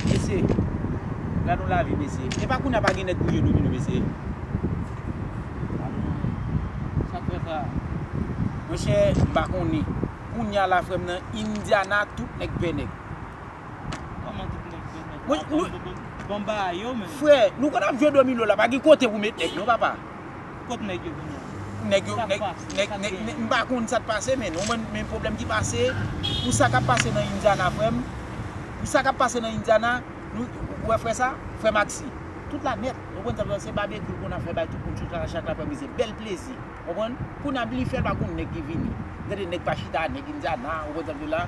Mesye, gad yon lavi mesye. E pa kounya pa gen nèg pou jwe domino mesye. Sa k fè sa? Mwen chè, m pa konnen. Kounya la frè m nan Indiana tout nèg vè nèg. Kòman tout nèg vè nèg? Bon ba yo menm. Frè, nou konn ap jwe domino la pa gen kote pou met nèg non papa. Kot nèg yo kounya? Nèg yo, nèg, nèg, nèg, nèg, m pa konn sa k pase men non, men m pwoblèm ki pase, pou sa k ap pase nan Indiana frè m, pou sa k ap pase nan Indiana, nou, ou wè frè sa, frè Maxi, tout la nèt, ou konn sa m di w la, se babekwi l konn ap fè bay tout moun chouchara chak laprè midi, bèl plezi, konprann, kounye a li fè l pa konn nèg ki vini, gade nèg pa chita, nèg Indiana, ou konn sa m di w la.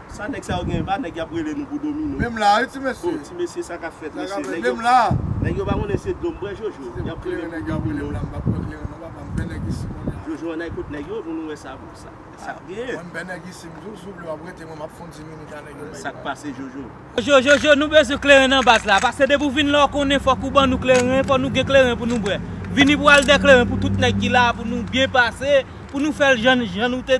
Sa nèg sa yo gen pa nèg yap rele nou pou domino. Menm la wi ti mesye. Bon ti mesye sa kap fèt mesye. Nèg yo pa konnen se domino. Nèg yo pa konnen se dom bwè jojo. Yap rele nou pou domino. Mwen pap bwè kleren non papa m bè nèg isit kounye a. Jojo anday kot nèg yo pou nou wè sa sak gen. Mwen m bè nèg isit m tou souple wap rete mwen map fon diminik a nèg yo. Sak pase jojo. Jojo jojo nou bezwen kleren nan bas la pase depi ou vin la ou konnen fok ou ban nou kleren fok nou gen kleren pou nou bwè. Vini pou al de kleren pou tout nèg ki la pou nou byen pase pou nou fèl jan nou te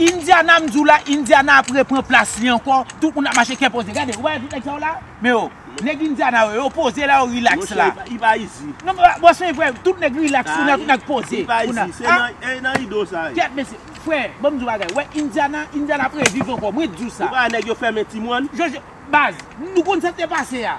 Indiana m di w la Indiana ap repran plas li ankò tout moun ap mache kè poze gade ou pa wè tout nèg sa yo la men yo nèg Indiana yo yo poze la yo rilaks la monchè li pa izi non bon se vre tout nèg rilaks kounye a tout nèg poze kounye a li pa izi se nan e nan ido sa ye kèt mesye frè ban m di w yon bagay ou wè Indiana Indiana ap reviv ankò mwen di w sa ou pa wè nèg yo fèmen ti mòn jòj baz nou konn sa k te pase a.